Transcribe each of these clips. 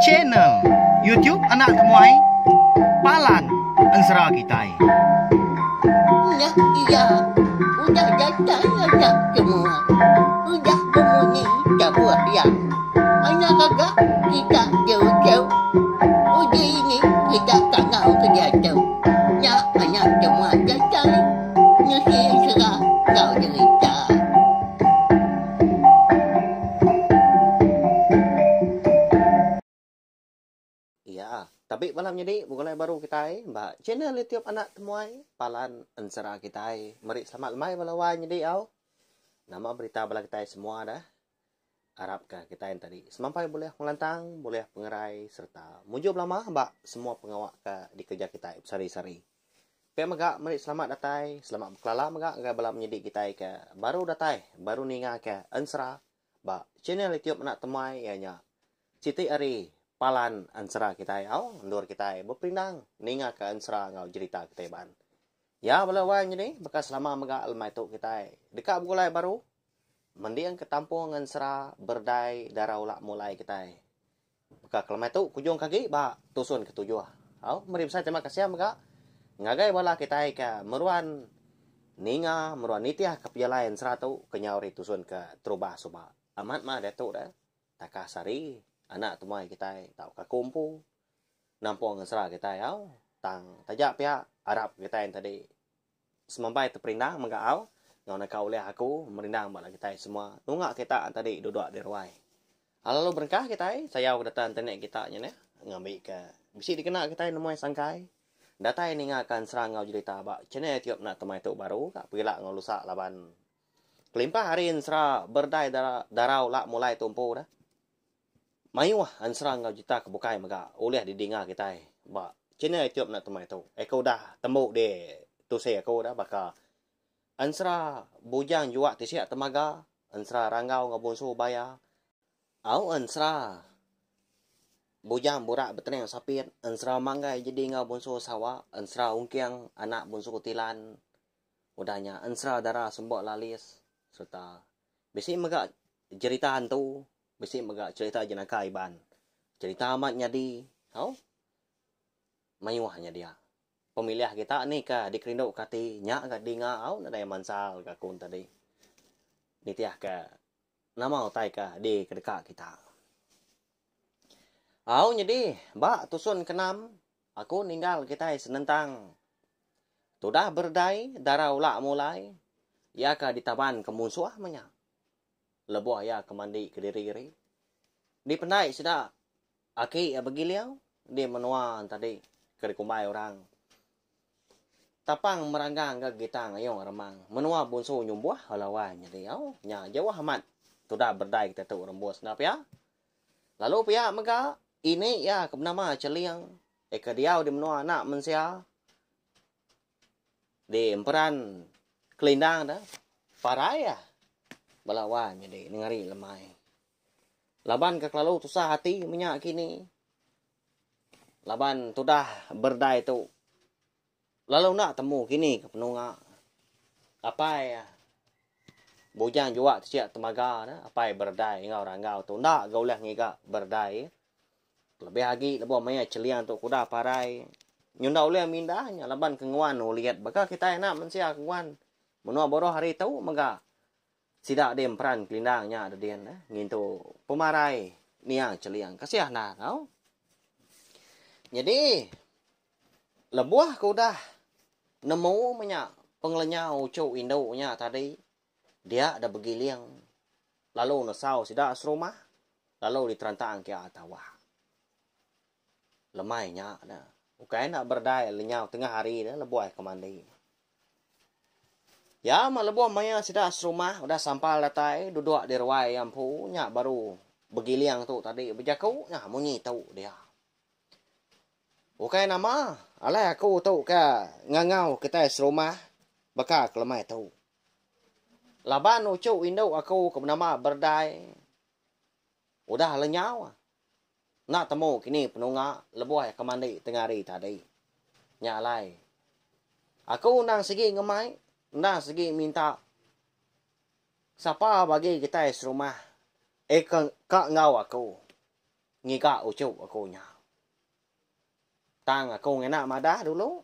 Channel YouTube anak temuai palan ensera kitai. Udah iya, udah datai anak temuai, udah bemunyi tabuh iya. Anak gaga kita jauh-jauh, udah ini kita tangau ke diatu. Nya anak temuai datai, nusi ensera enggau derita. Iya, tapi bala menyadi begulai baru kitai ba channel YouTube Anak Temuai Palan Ensera kitai. Meri selamat lemai bala wai nyadi au. Nama berita bala kitai semua dah. Arap ka kitai tadi semampai bulih pengelantang, bulih pengerai serta mujur belama ba semua pengawa ka dikereja kitai besari-sari. Pia mega meri selamat datai, selamat bekelala mega ngagai bala menyedi kitai ke baru datai, baru ningaka ensera ba channel YouTube Anak Temai iya nya siti ari palan ensera kitai au endur kitai beperindang ningaka ensera enggau jerita kitai ban. Ya bala wang nyedi baka selama mega lemai tu kitai deka begulai baru mendingka tampung ensera berdai dara ula mulai kitai. Baka kelemai tu kujung ke agi ba tusun ke tujuh. Au, meri besai terima kasih mega ngagai bala kitai ke meruan ninga, meruan nitih ke pejalai ensera tu ke nyau ari tusun ke terubah suba. Amat mah diatu deh. Takah sehari anak temuai kitai tauka aku empu nampung ensera kitai au. Tang taja pia arap kitai enti di. Semampai tu perindang mega au enggau naka ulih aku merindang ba anak kitai semua nunga kita enti adi duduk di ruai. Lalu berengkah kitai sayau ke data internet kita nya neh ngambika bisi dikena kitai nemui sangkai datai ninga ka ensera enggau jerita ba channel youtube enda temai tu baru ka pegila enggau lusa laban kelimpah ari ensera berdai darau la mulai tumpu dah. Mayuh ansra enggau jita ke bukai mega ulih didinga kitai ba channel YouTube enda temai tu. Aku udah tembu di tusi aku udah baka ansra bujang jua ti sia temaga, ansra ranggau enggau bunsu baya, au ansra bujang burak betening sapit, ansra manggai jadi enggau bunsu sawa, ansra ungking anak bunsu tilan, udah nya ansra dara semba lalis sereta bisi mega jerita hantu. Bisi mega cerita jenaka Iban. Cerita amat nyadi tau mayuh nya dia. Pemilih kita ni ke dikerinduka ati nya ga dinga au nadai mansa lalu aku tadi. Nitihka nama utai ke dikedeka kita. Au nyadi ba tusun ke enam aku ninggal kitai senentang tudah beredai dara ula mulai iya ke ditabanka munsuh meh nya. lebuh iya ke mandi kediri ari. Dipendai sida aki iya begiling di menua entadi ke dikumbai orang Tapang Meranggang ga Gitang Ayong Remang, menua Bunsu Nyumbuh, Alawai nya diau. Nya jauh amat tudah berdai kita tu rembus enda pia. Lalu pia mega ini iya ke benama Cheling iya ke diau di menua anak mensia Di emperan Kelindang tu, parai iya bala wai nyadi nengari lemai. Laban ke kelalu tusah ati menya kini. Laban tudah berdai tu lalu enda temu kini ke penunga. Apai iya bujang jua kecil temaga tu, apai berdai enggau ranggau tu enda ga ulih ngiga berdai. Lebih agi lebuh maya Cheliang tu kudah parai nyunda ulih mindah nya laban ke nguan ulit baka kitai anak mensia ke nguan menua buruh hari tu mega sida deh emperan kelindang nya de din eh ngintu pemarai niang Cheliang kasih anda tau. Nyadi lebuh ke udah nemu menya pengelenyau uchu indu nya tadi Dia da begiling lalu nesau sida serumah lalu diteranta engkia tawa. Lemai nya da ukai enda beredai lenyau tengah hari da lebuh ke mandi. Iya meh lebuh maya sida serumah udah sampal datai duduk di ruai iya empu nya baru begiling tu tadi bejaku nya munyi tu dia. Ukai nama alai aku tu ke ngangau kitai serumah baka ke lemai tu. Laban uchu indu aku ke benama Berdai udah lenyau, enda temu kini penunga lebuh iya ke mandi tengah hari tadi. Nya alai, aku endang sigi ngemai, endang sigi minta sapa bagi kitai serumah eh ke ka enggau aku ngiga uchu aku nya. Tang aku ngena madah dulu.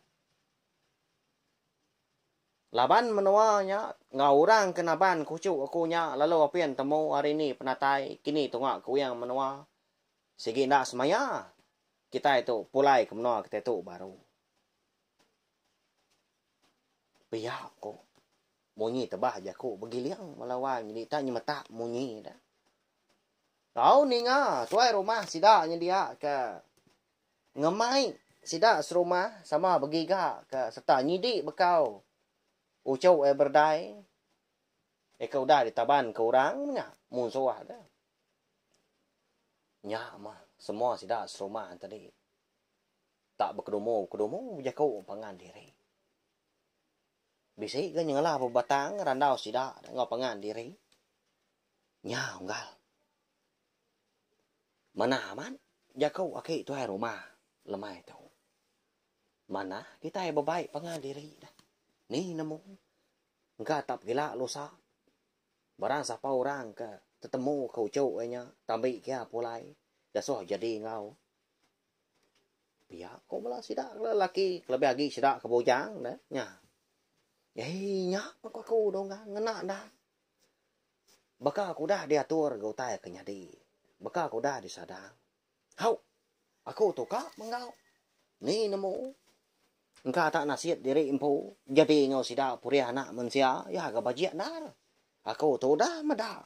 Laban menoa nya enggau orang ke naban kuchu aku nya lalu apin temu hari ni penatai kini tunga kuing menoa sigi enda semaya kitai tu pulai ke menoa kitai tu baru. Pia ko munyi tebah jaku begiling bala wang nyadi ita nyemetak munyi da. Tau ninga tuai rumah sida nyedia ke Ngemai sida serumah sama begiga ke sereta nyidi bekau uchu ai berdai iya ke udah ditaban ke orang menya munsuh deh. Nya mah semua sida serumah tadi tak bekedumu-kedumu bejaku pangan diri. Bisi ga nyengela bebatang randau sida enggau pangan diri. Nya unggal. Manah amat jaku aki tuai rumah lemai tu. Manah kitai bebaik pangan diri dah. Ni nemu. Engka tap gila lusa. Barang sapa orang ke tetemu ke uchu iya nya tambi kia pulai gasoh jadi enggau. Pia ko bala sida ke lelaki kelebih agi sida ke bujang dah nya. Ai nya pun aku dungga ngena enda. baka ku udah diatur ga utai ke nyadi, baka ku udah disadang. Hau! Aku tu ka menggau. Ni nemu? Engka tak nasit diri empu jadi enggau sida purih anak mensia, iya ga bajik endar. Aku tu udah meda.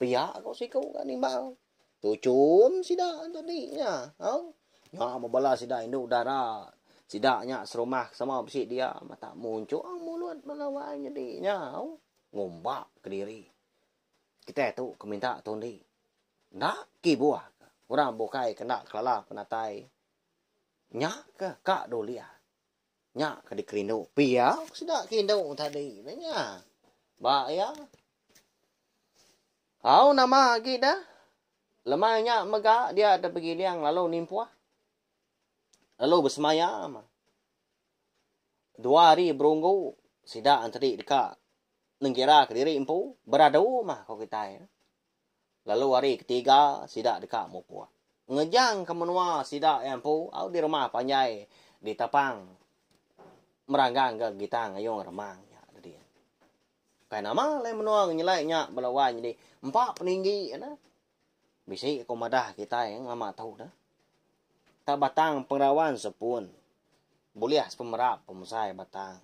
Pia ku siku ga nimbal. Tu chum sida tu di nya. Au. Nya mebela sida indu dara. Sida nya serumah sama bisi dia mata munchung mulut bala wai nyedi nya. Au. Ngumba kediri. Kitai tu ke minta tu endi. Enda kibuh ke. Orang bukai ke enda kelala penatai. Nya ke ka dulih. Nya ke dikerindu pia ku sida ke indu tadi ne nya. Ba iya. Au nama agi da? Lemai nya mega dia dek begiling lalu nimpuh. Lalu besemaya mah. Dua hari berunggu sida ntedi deka nengira ke diri empu beradu mah ko kitai. lalu hari ketiga sida deka mupuk. Ngejangka menua sida iya empu au di rumah panjai di Tapang meranggangka Gitang Ayong Remang nya tadi. Ukai nama alai menua ngenyelai nya bala wai nyadi empa peninggi nya. Bisi ku madah kitai ngelama tu dah. Ka batang pengerawan sepun bulih sepemerap pemesai batang.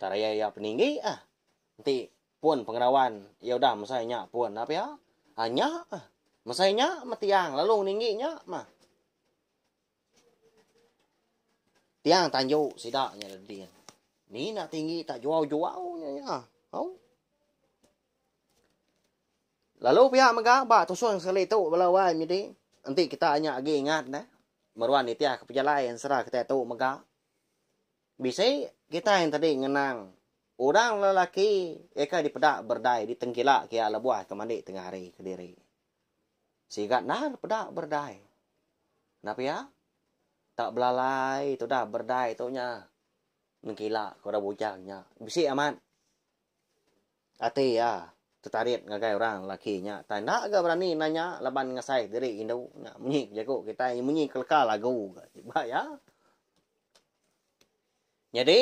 Tariai iya peninggi ah. Enti Pun pengendawan iya udah mesai nya pun nah pia. Ha nya ah. Mesai nya meh tiang lalu ngeninggi nya meh. Tiang tanju sida nya le din. Ni nak tinggi tak juau-juau nya nya. Au. Lalu pia mega ba tusun sekali tu bela wai menyedi. Enti kita nya agi ingat nah. Meruan nitih ke pejalai ensera kita tu mega. Bisi kitai entadi ngenang orang lelaki iya ke dipeda berdai ditengkila ke iya lebuh ke mandi tengah hari kediri. Siga endar peda berdai. Enda pia? Tak belalai tudah berdai tu nya nengkila ke orang bujang nya. Bisi amat. Ati iya tetarit ngagai orang lelaki nya utai enda ga berani nanya laban ngasai diri indu nya munyi ke jaku kitai iya munyi ke leka lagu ga iba iya. Nyadi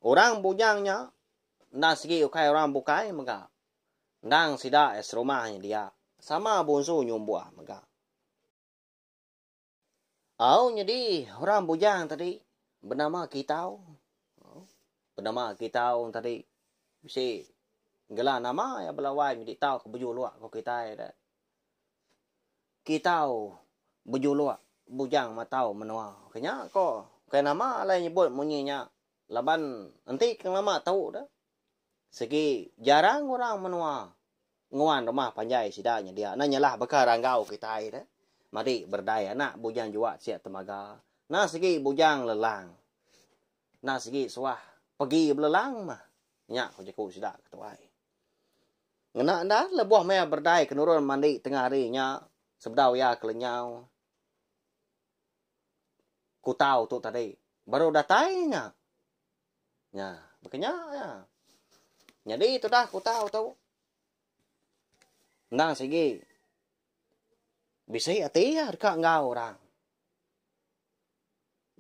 orang bujang nya enda sigi ukai orang bukai mega endang sida iya serumah nya dia sama bunsu nyumbuh mega. Au nyadi orang bujang tadi benama Kitau. Oh, benama Kitau tadi bisi gela nama ya belawai nyadi tau ke bejuluk ko kitai da. Kitau bejuluk bujang matau menua. Kenya ko kai nama alai nyebut munyi nya laban enti ke lama tau da Sigi jarang orang menua nguan rumah panjai sida nyedia nah nyelah baka ranggau kitai dah. Madi berdai anak bujang juak siak temaga. Nah sigi bujang lelang. Nah sigi suah pegi belelang mah. Nya ku jaku sida ke tuai. Ngena enda lebuh maya berdai ke nurun mandi tengah hari nya sebedau iya ke lenyau kutau tu tadi baru datai nya. Nya, baka nya aja. Nyadi tudah kutau tu. Endang sigi. Bisi ati ya deka enggau orang.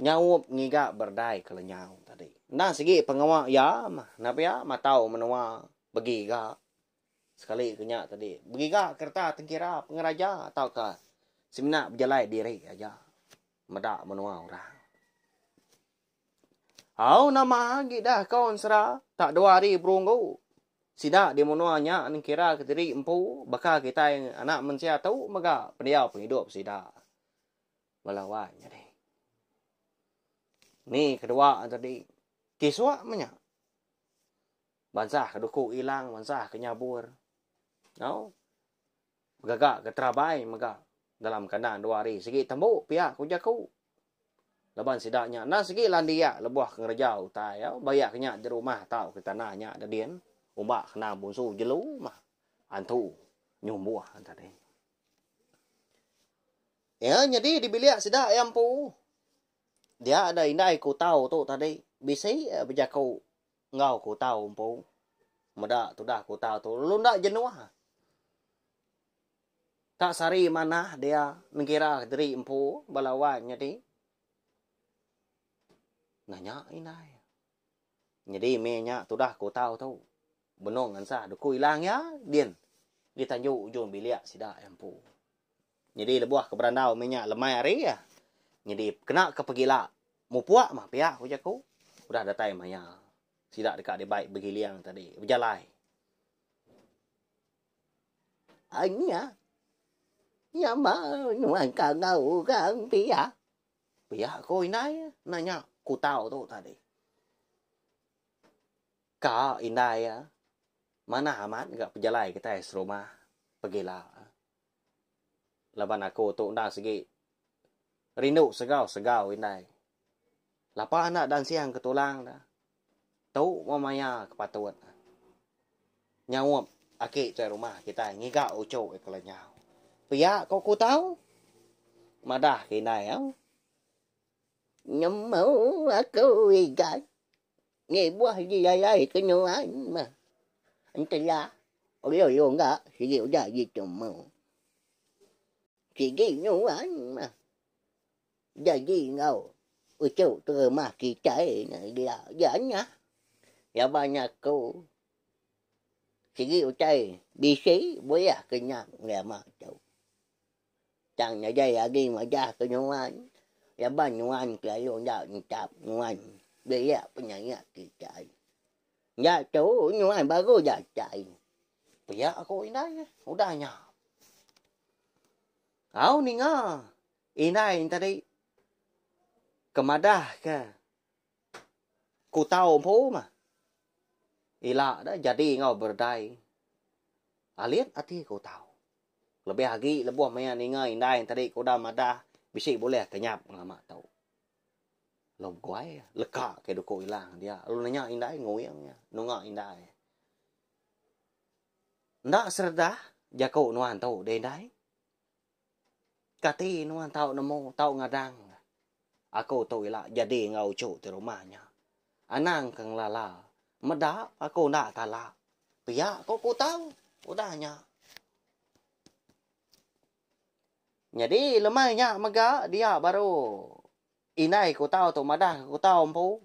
Nyaup ngiga berdai ke lenyau tadi. Endang sigi pengawa ya mah. Napa ya matau menua begiga. Sekali ke nya tadi. Begiga kereta tengkira pengeraja atau ke semina bejalai diri aja. Meda menua orang. Au nama agi dah kau ensera tak dua hari perunggu. Sida di menua nya nengkira kediri empu baka kitai anak mensia tu mega pendiau pengidup sida. Bala wan nyadi. Ni kedua tadi. Kisua menya. Bansa ke duku ilang, bansa ke nyabur. Au. Begaga ke terabai mega dalam kandang dua hari sigi tembu pia ku jaku. Laban sida nya enda sigi landia lebuh ke ngereja utai iya bayak ke nya di rumah tauka tanah nya da din umba ke nang bunsu jelu mah antu nyumbuh tadi. Iya nyadi di bilik sida iya empu. Dia da indai ku tau tu tadi bisi bejaku Enggau kutau empu. Meda tudah kutau tu lalu enda jenuh. Tak sari manah dia nengkira diri empu bala wan nyadi. Nah nya indai. Nyadi meh nya tudah kutau tu. Benung ensah duku ilang iya din. Di tanju ujung bilik sida empu. Nyadi lebuh ke berandau meh nya lemai hari iya. Nyadi kena ke pegila mupuk mah pia ku jaku. Udah datai maya sida deka dibai begiling tadi bejalai. Ai nya nya mah nuan ka enggau orang pia. Pia ku indai nah nya kutau tu tadi. Ka indai iya manah amat ga pejalai kitai serumah pegila. Laban aku tu enda segi rindu segau-segau indai. Lapa enda dansing ke tulang da. Tu meh maya ke patut ne. Nyaup aki tuai rumah kitai ngiga uchu iya ke lenyau. Pia ko aku tau. Madah ke indai au. Nyemu aku igai. Ngibuh agi yayai ke nuan meh. Entela ulu-ulu ga sigi udah agi tumu. Sigi nuan meh. Jaji enggau uchu ke rumah kitai ne ila ja nyah. Laban aku sigi utai bisi bulih ke nya ngagai ama tu. Tang nadai agi majah ke nuan, laban nuan kelalu enda nitap nuan belia penyayat kitai. Nya tu nuan baru datai. Pia ku indai udah nya. Au ninga indai tadi ke madahka. Ku tau empu mah. Ila dah jadi enggau berdai. Alit ati ku tau. Lebih agi lebuh maya ninga indai enteri ke udah madah bisi bulih ke nyap ngelama tu. Lalu beguai leka ke duku ila ngan dia. Lalu nanya indai nguing iya. Nunga indai. Enda seredah jaku nuan tu deh indai. Kati nuan tau nemu, tau ngadang ne? Aku tu ila jadi enggau uchu ti rumah nya. Anang ke ngelala. Meda aku enda tala. Pia ku ku tau udah nya. Nyadi lemai nya mega dia baru indai ku tau tu madah ke ku tau empu.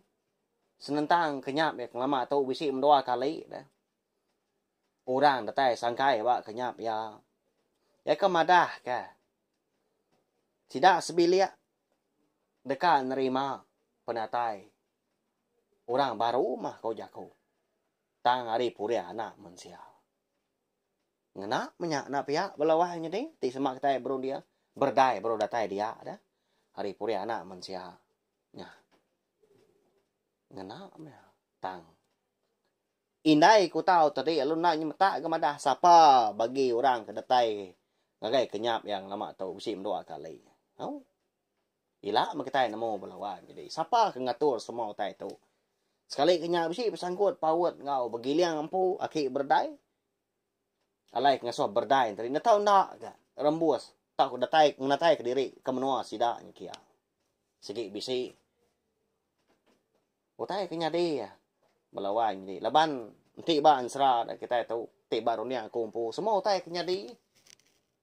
Senentang ke nya meh ke lama tu bisi mendua kali dah. orang datai sangkai ba kenyap iya. Iya ke madahka sida sebilik deka nerima penatai orang baru mah ko jaku tang ari pulih anak mensia. Ngena menya enda pia bala wang nyadi ti sema kitai berunding berdai baru datai dia dah ari pulih anak mensia nya. Ngena meh tang. Indai ku tau tadi lalu endang inya metak ga madah sapa bagi orang ke datai ngagai ke nyap iya lama tu bisi mendua kali. Au. Ila meh kitai nemu bala wan jadi sapa ke ngatur semua utai tu. Sekali ke nya bisi besangkut paut enggau begiling empu aki beredai. Alai ke ngasuh beredai tadi enda tau enda ga rembus tauka datai ngenatai ke diri ke menua sida nya kia. Sigi bisi. Utai ke nyadi iya bala wai nyadi laban enti ba ensera da kitai tu ti ba runding aku empu semua utai ke nyadi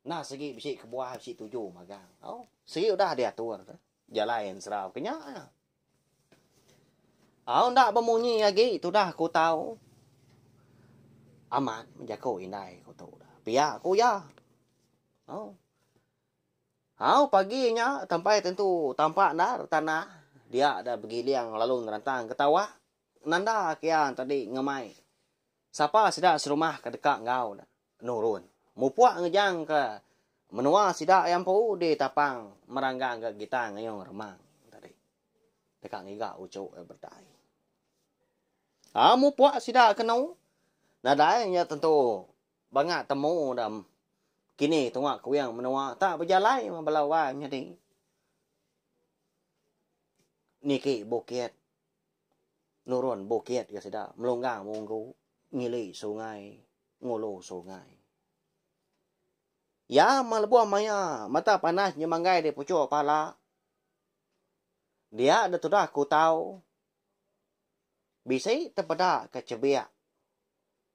enda sigi bisi kebuah bisi tuju magang tau sigi udah diatur jalai ensera ke nya nya au enda bemunyi agi tudah aku tau amat menjaku indai aku tu pia ku iya tau. Hau pagi nya tampai tentu tampak endar tanah dia da begiling lalu nerantang ke tawak nanda kia tadi ngemai sapa sida serumah ke deka enggau ne nurun mupuk ngejang ke menua sida iya empu di tapang meranggang ga gitar ngeyung remang tadi deka ngiga uchu iya betai. Hau mupuk sida kenu nadai nya tentu. Banga temu da kini tunga kuing menua ta bejalai meh bala wai menyadi niki bukit nurun bukit ga sida melunggang munggu ngili sungai ngulu sungai. Iya meh lebuh maya mata panas nyemanggai di puchuk pala dia da tudah kutau bisi tepeda ka chebik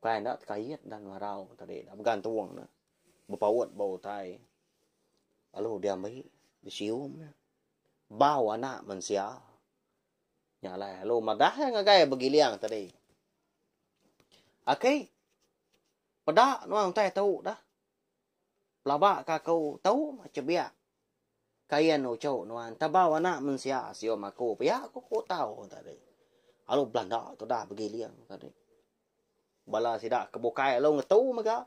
Ukai enda tekait enda ngelarau tadi enda mega entung ne bepaut ba utai lalu diambi disium ne bau anak mensia nya alai lalu madah iya ngagai begiling tadi aki peda nuan utai tu dah. Pelaba ka aku tu cebiak kain uchu nuan tebau anak mensia sium aku pia ku ku tau tadi. Alu belanda tudah begiling tadi. Bala sida ke bukai alu ngetu mega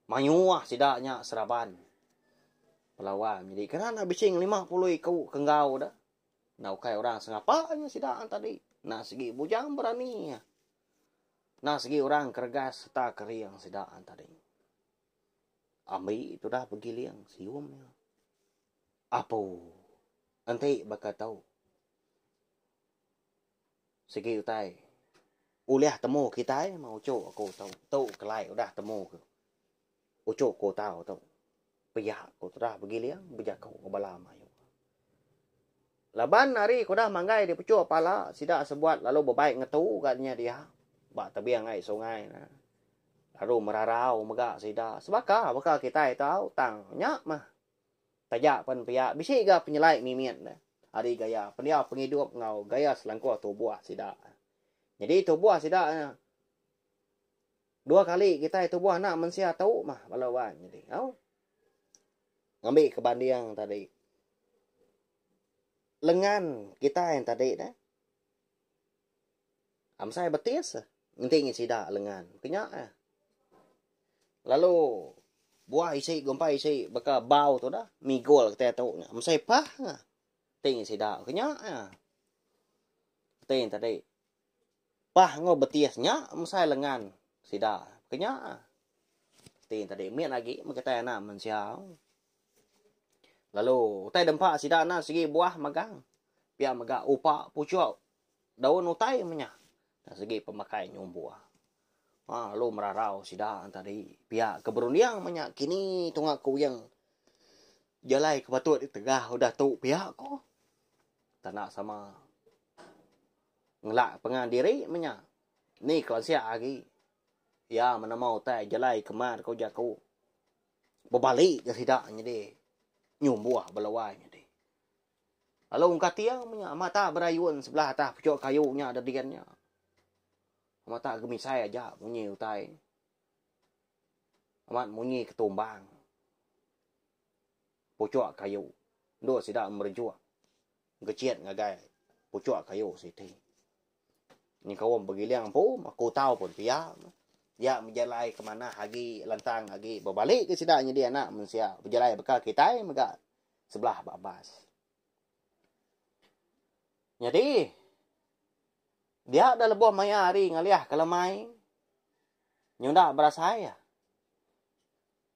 mayuh sida nya seraban pelawan nyadi kena enda bisi lima puluh iku ke enggau da enda ukai orang sengapa nya sida tadi enda segi bujang berani enda segi orang keregas sereta kering sida tadi. Ambi tudah begiling sium iya. Apu. Enti baka tu. Sigi utai. Ulih temu kitai mah uchu aku tu. Tu kelai udah temu ke. Uchu ku tau tu. Pia ku tudah begiling bejaku ke bala mayuh. Laban ari ke udah manggai dipechuk pala, sida sebuat lalu bebai ngetu ga nya dia ba tebing ai sungai ne. Lalu merarau mega sida sebaka baka kitai tau tang nya mah. Taja pen pia bisi ga penyelai mimit ne ari gaya pendiau pengidup enggau gaya selangkuh tubuh sida. Nyadi tubuh sida Dua kali kitai tubuh anak mensia tu mah bala wan nyadi au. Ngambi ke banding tadi. Lengan kitai tadi dah. Amsai betis eh. Enti ngi sida lengan. Pinya eh. Lalu buah isi gumpai isi baka bau tu dah. Migol kita tu. Amsai pah. Enti ngi sida. Pinya eh. Enti tadi. Pah enggau Betis nya mesai lengan sida kenya. Ti tadi mit agi mega kitai anak mensia. Lalu utai dempa sida na segi buah magang. Pia mega upa puchuk daun utai menya dari segi pemakai nyumbu. Ha lalu merarau sida tadi pia ke berunding menya kini tunga kuing jalai ke patut ditegah udah tu pia ko tanda sama. Ngelak pengan diri menya. Ni kelansia agi. Iya menemu utai jalai ke mat ku jaku. Bebali ke sida nyadi nyumbuh ba luai nyadi. Lalu engka tiang menya mata berayun sebelah atas puchuk kayu nya da din nya. Mata gemisai aja munyi utai. Amat munyi ke tumbang. Puchuk kayu. Endur sida merejuk. Gecit ngagai puchuk kayu siti. Nyengkaum begiling empu, aku tau pun pia. Iya bejalai ke manah agi lantang agi bebali ke sida nyadi anak mensia. Bejalai baka kitai mega sebelah ba bas. Nyadi, dia da lebuh maya hari ngalih ke lemai, nyuda berasai.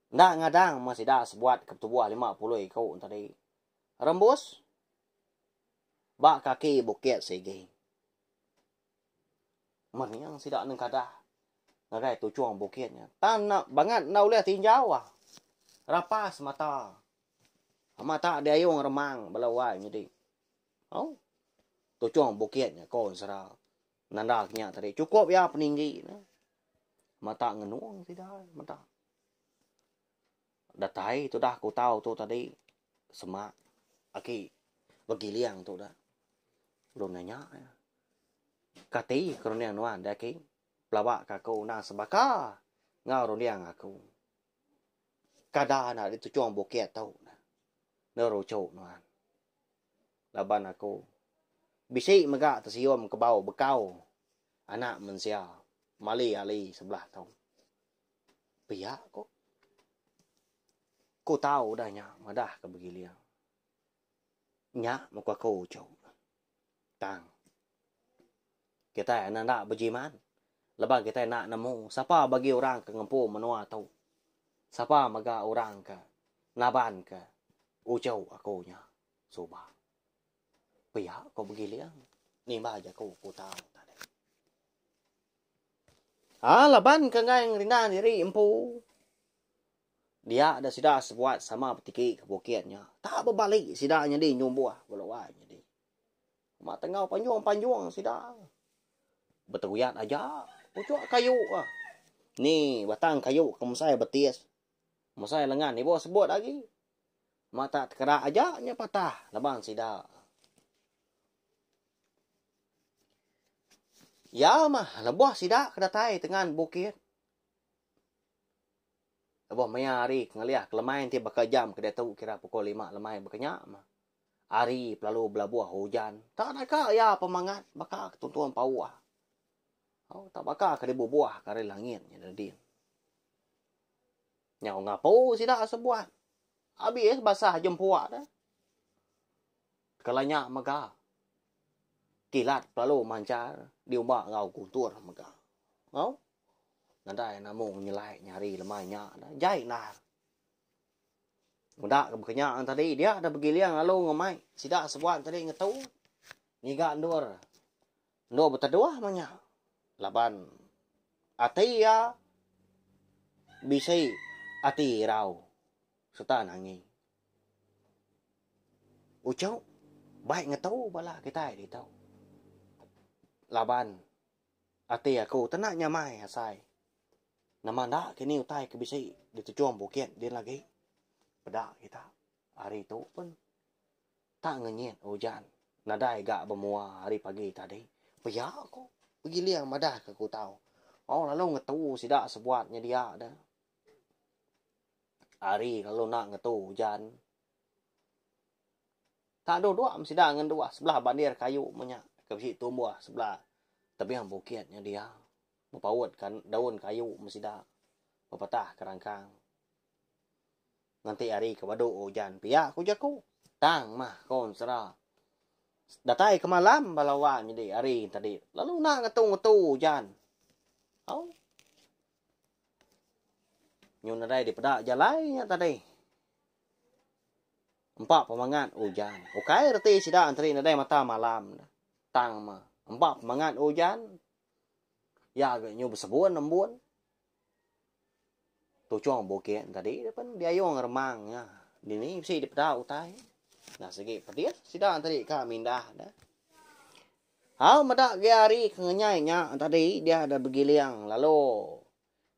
Enda ngadang meh sida sebuat ke betubuh lima puluh iku tadi. rembus ba kaki bukit sigi. Menyang sida nengkadah ngagai tuchung bukit nya. Tang enda bangat enda ulih tinjau ah. Rapas mata. Mata diayung remang bala wai nyadi. Oh. Tuchung bukit nya ko sera. Nanda kenya tadi cukup ya peninggi ne. Mata ngenung sida mata. Datai tu dah kutau tu tadi semak aki begiling tu dah. Ulun nanya ya. Kati ke runding nuan dah ki? Pelaba ka aku nang sebaka ngau runding aku. Kada nak di tuchung bukit tu. Nerucu nuan. Laban aku. Bisi mega tesium kebau bekau anak mensia. Mali ali sebelah tu. Pia ko. Ku tau udah nya madah ke begiling. Nya muka aku uchu. Tang. Kitai enda enda bejiman. Leban kitai enda nemu sapa bagi orang ke ngempu menua tu. Sapa mega orang ke naban ke uchu aku nya suba. Pia ko begiling. Nimba ja ku, ku tau tadi. A laban ke enggai ngerindah diri empu, dia deh sida sebuat sama betiki ke bukit nya. Tak bebali sida nyadi nyumbuh bala wai nyadi. Uma tenggau panjung-panjung sida beteruyat aja pucuk kayu. Ni batang kayu ke mesai betis. Musai lengan ibuh sebut agi. Mata tekerak aja nya patah laban sida. Iya mah lebuh sida ke datai tengan bukit. Lebuh maya hari ke ngelih ke lemai enti baka jam ke diatu kira pukul lima lemai baka nya mah. Hari pelalu belabuh ujan. Tak naka iya pemangat baka ke tuntung pauh. Au tak baka ke dibubuhka ari langit nya Nadin. Nyau ngapu sida sebuat. Abis basah jempua dah. Kala nya mega. Kilat lalu mancar diumba enggau guntur mega. Au. Nadai namung nyelai nyari lemai nya dah. Jai endar. Meda ke bekenya tadi dia dah begiling lalu ngemai sida sebuat tadi ngetu. Ngiga endur. Enda beteduh meh nya laban ati iya bisi ati irau sereta nangi. Uchu bai ngetu bala kitai ditu laban ati aku tena nyamai asai nama enda kini utai ke bisi di tejung bukit din lagi peda kita ari tu pun Tak ngenyit ujan nadai ga bemua ari pagi tadi. Pia ko Giling madah ke Kutau. Au lalu ngetu sida sebuat nyedia de. Ari lalu enda ngetu ujan. Tak dua dua sida ngenduh sebelah bandir kayu menya ke bisi tumbuh sebelah tebing bukit nya dia. Bepaut ka daun kayu me sida bepetah ke rangkang. Nganti hari ke badu ujan pia ku jaku. Tang mah ko ensera. Datai ke malam bala wang nyadi hari tadi lalu enda ngetu ngetu ujan. Au. Nyu nadai dipeda jalai nya tadi. Empa pemangat ujan. Ukai reti sida enteri nadai mata malam. Tang mah. Empa pemangat ujan. Ya ga nyu besebun embun. Tuchong bukit tadi pen diayong remang nya dini bisi dipeda utai enda sigi pedih sida tadi ka mindah ne. Au meda ge ari ke ngenyai nya tadi dia deh begiling lalu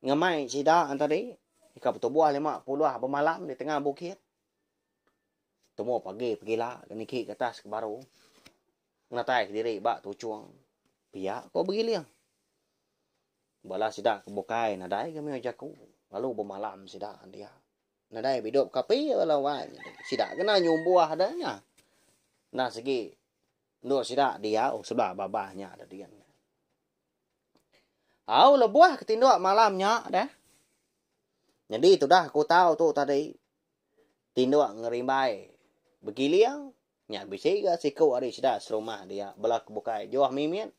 ngemai sida tadi ka betubuh lema puluh bemalam di tengah bukit tumu pagi pegila ke niki ke atas ke baru ngenatai diri ba tuchong pia ko begiling. Bala sida ke bukai nadai ke mioh jaku lalu bemalam sida dia. Nadai bidup ke api bala wai nyadi. Sida kena nyumbuh da nya. Enda sigi endur sida diau sebala babah nya da din. Au lebuh ke tinduk malam nya deh. Nyadi tudah aku tau tu tadi tinduk ngerimbai begiling nya bisi ga siku ari sida serumah dia bala ke bukai juah mimit.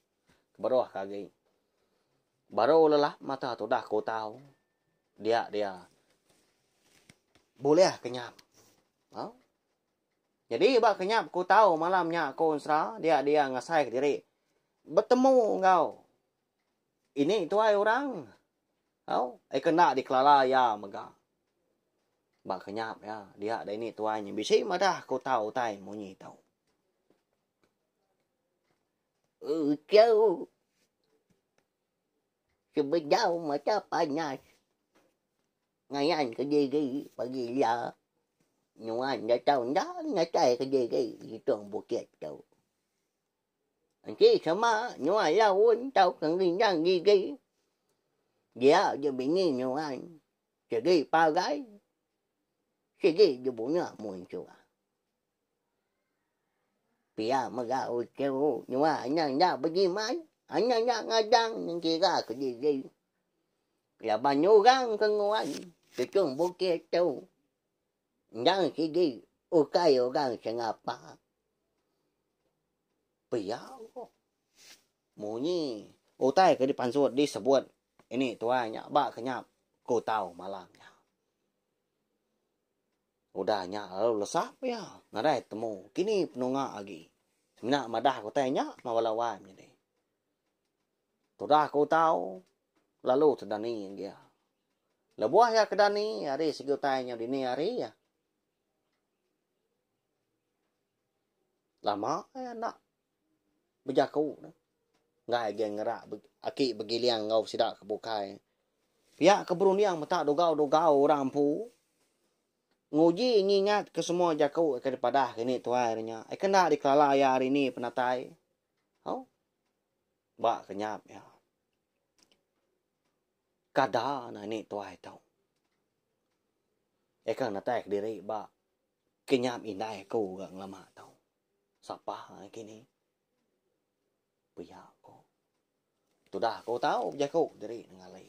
Keberuh ke agi. Baru lelap mata tudah ke utau. Dia dia. Bulih ke nyap. Ha? Jadi ba ke nyap ke utau malam nya aku ensera dia dia ngasai ke diri. Betemu enggau. Ini tuai orang. Ha? Eh kena dikelala ya mega. Ba ke nyap ya. Dia dia ini tuai. Bisi madah ke utau utai munyi tau. Uchau sebedau mata panas ngayan kediri pagi iya nuan enda tau enda natai kediri itung bukit tu. Enti sema nuan laun tauka ngerindang gigi dia je bini nuan segi parai sigi dibuna munsuh. Pia mega utai u nyua anang nya bejimat, anang nya ngadang ngira kediri. Laban nyurang ke nguan tuchum bukit tu endang sigi ukai orang ke ngapa. Pia ku munyi utai ke dipansut disebut ini tuai nya ba kenyap ku tau malam nya. Udah nya lalu lesap iya nadai temu kini penunga agi. Semina madah ke utai nya mah bala wai menyadi. Tudah ke utau lalu tedani agi iya. Lebuh iya ke dani ari segi utai nya dini ari iya. Lama iya enda. bejaku neh. Enggai agei ngera aki begiling enggau sida ke bukai. Pia ke berunding meta dugau-dugau orang empu nguji ngingat ke semua jaku ke dipadah ke ini tuai hari nya. Aka enda dikelala iya hari ini penatai. Au. Ba ke nyap iya. Kada ne ini tuai tu. Aka natai kediri ba ke nyap indai aku ga ngelama tu. Sapa agi ni? Pia ko. Tudah ko tau bejaku diri nengali.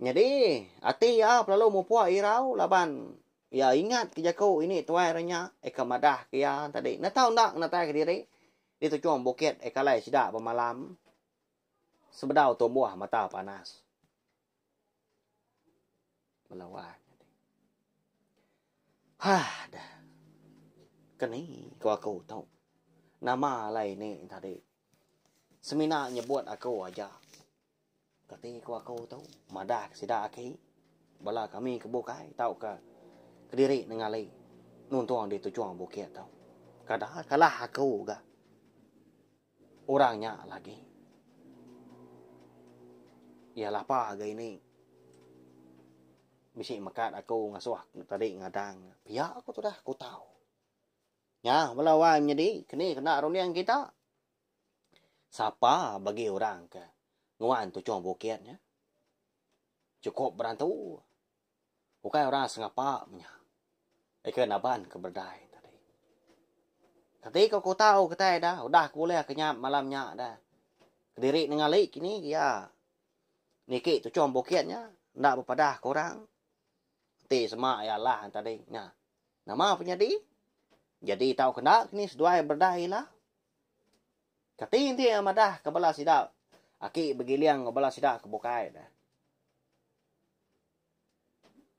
Nyadi, ati iya pelalu mupuk irau laban iya ingat ke jaku ini tuai renya eka madah ke iya tadi enda tau enda ngenatai ke diri di tuchung bukit eka alai sida bemalam sebedau tumbuh mata panas. Bala wak nyadi. Hah dah. Keni ko aku tu. Nama alai ni tadi. Semina nyebut aku aja. Kati ko aku tu. Madah sida aki. Bala kami ke bukai tauka kediri nengali nuntung di tujung bukit tu. Kada kalah aku ga. Orang nya lagi iya lapa ga ini bisi mekat aku ngasuh tadi ngadang nya pia ku tudah aku tau nya bala wai menyadi keni kena runding kita sapa bagi orang ke nguan tuchong bukit nya chukup berantu. Ukai orang sengapa menya. Ika naban ke berdai tadi. Kati ke ku tau kitai da udah ke ulih ke nya malam nya da. Kediri nengali kini iya niki tuchong bukit nya enda bepadah ke orang enti sema iya alah tadi nya. Nama penyadi? Jadi tau ke enda kini seduai berdai ila. Kati enti iya madahka bala sida aki begiling enggau bala sida ke bukai ne?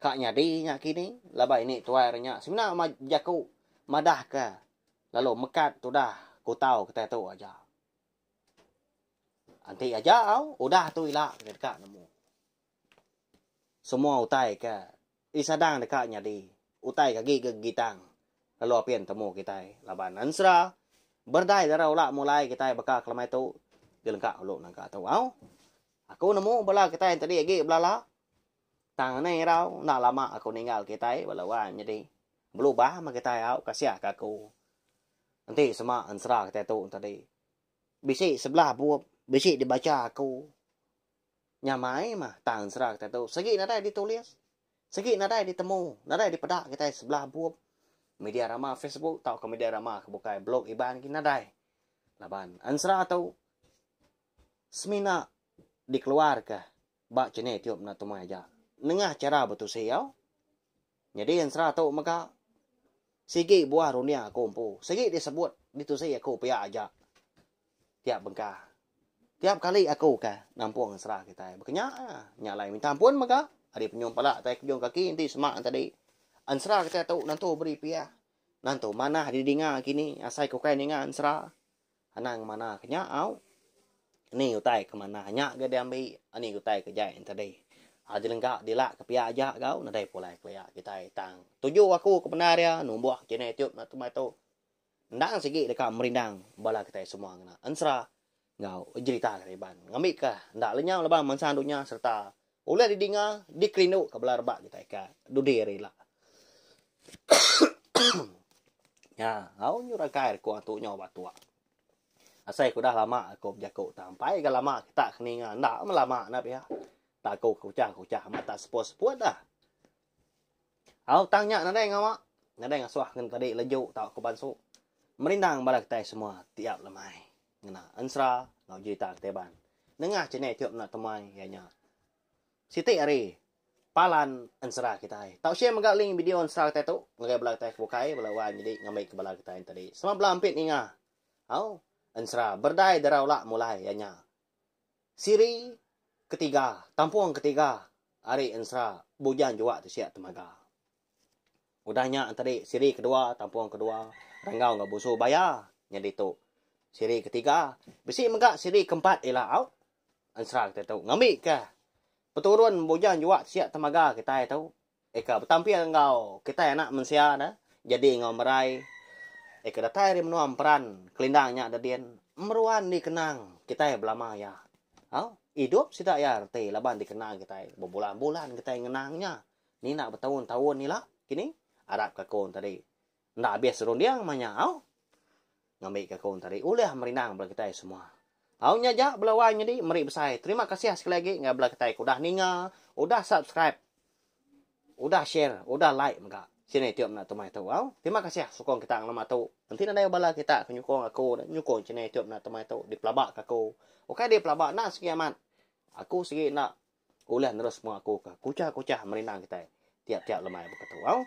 Ka nyadi nya kini laban ini tuai re nya semina bejaku madahka lalu mekat tudah kutau kitai tu aja. Enti aja au udah tu ila deka nemu. Semua utai ke disadang deka nyadi utai ke agi ke gitang lalu apin temu kitai laban ensera berdai dara ula mulai kitai baka ke lemai tu di lengka ulu nangka tu au. Aku nemu bala kitai entadi agi belala tang neh irau enda lama aku ninggal kitai bala wan nyadi belubah meh kitai au kasiah ka aku. Enti sema ensera kitai tu entadi bisi sebelah bup bisi dibacha aku. Nyamai mah tang ensera kitai tu sigi nadai ditulis, sigi nadai ditemu, nadai dipeda kitai sebelah bup media rama Facebook tauka media rama ke bukai blog Iban lagi nadai. Laban ensera tu semina dikeluarka ba channel YouTube enda tumai aja nengah chara betusi au. Nyadi ensera tu mega sigi buah runding aku empu. Sigi disebut ditusi aku pia aja tiap bengkah. Tiap kali aku ke nampung ensera kitai. Baka nya iya. Nya alai minta ampun mega ari penyuh pala tai kejung kaki enti sema tadi. Ensera kitai tu nentu beri pia. Nentu manah didinga kini asai ke ukai ninga ensera. Anang manah ke nya au. Ni utai ke manah nya ga diambi ani utai ke jai tadi. Aji lengka dila ke pia aja gau nadai pulai kelia kitai tang tuju aku ke bendar ia numbuh channel youtube na temai tu endang sigi deka merindang bala kitai semua ngena ensera enggau jerita Kariban ngambika enda lenyau laban mansang dunya sereta Ulih didinga, dikerindu ka bala rebak kitai ka dudi ari ila. Nya, au nyu rakai riku antu nyo ba tua. Asai ku udah lama aku bejaku tang ampai ga lama kita keninga enda melama enda pia. Taku ke kuchah-kuchah amat tak seput-seput dah. Au tang nya nadai ngawa, nadai ngasuh ngan padi leju tauka bansu. Merindang bala kitai semua ti ap lemai ngena ensera enggau jerita kitai ban. Nengah channel tu meda temuai iya nya siti ari palan ensera kitai. Tau share mega link video ensera kitai tu ngagai bala kitai ke bukai bala wai menyedi ngambika bala kitai enti tadi. Selamat bela ampit ninga. Au ensera Berdai Dara Ula mulai iya nya. Siri ketiga, tampung ketiga ari ensera Bujang Juak tu sia temaga. Udah nya tadi siri kedua, tampung kedua Ranggau enggau Busu Baya nya ditu siri ketiga. Bisi mega siri keempat ila au ensera kitai tu ngambika peturun Bujang Juak tu sia temaga kitai tu. Eka betampir enggau kitai anak mensia da jadi enggau merai eka datai ari menua emperan kelindang nya da din meruan dikenang kitai belama iya. Au, idup sida iya reti laban dikenang kitai bebulan-bulan kitai ngenang nya ninda betaun-taun ila kini arap ka ku enti tadi Enda abis serunding meh nya au. Ngambi ke aku enti ari ulih merindang bala kitai semua. Au nya ja bala wai nyadi meri besai terima kasih sekali agi enggau bala kitai ke udah ninga, udah subscribe, udah share, udah like mega channel youtube enda tumai tu au. Terima kasih sukung kita ngelama tu. Enti nadai bala kita ke nyukung aku nyukung channel youtube enda tumai tu dipelaba ke aku. Ukai dipelaba enda segi amat. Aku segi enda Ulih nerus mua aku ke kuchah-kuchah merinang kitai tiap-tiap lemai beketu. Au.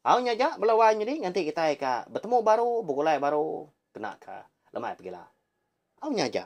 Au nya aja bela wai nyadi nganti kitai ka betemu baru, begulai baru kena ka lemai pegila. Au nya aja.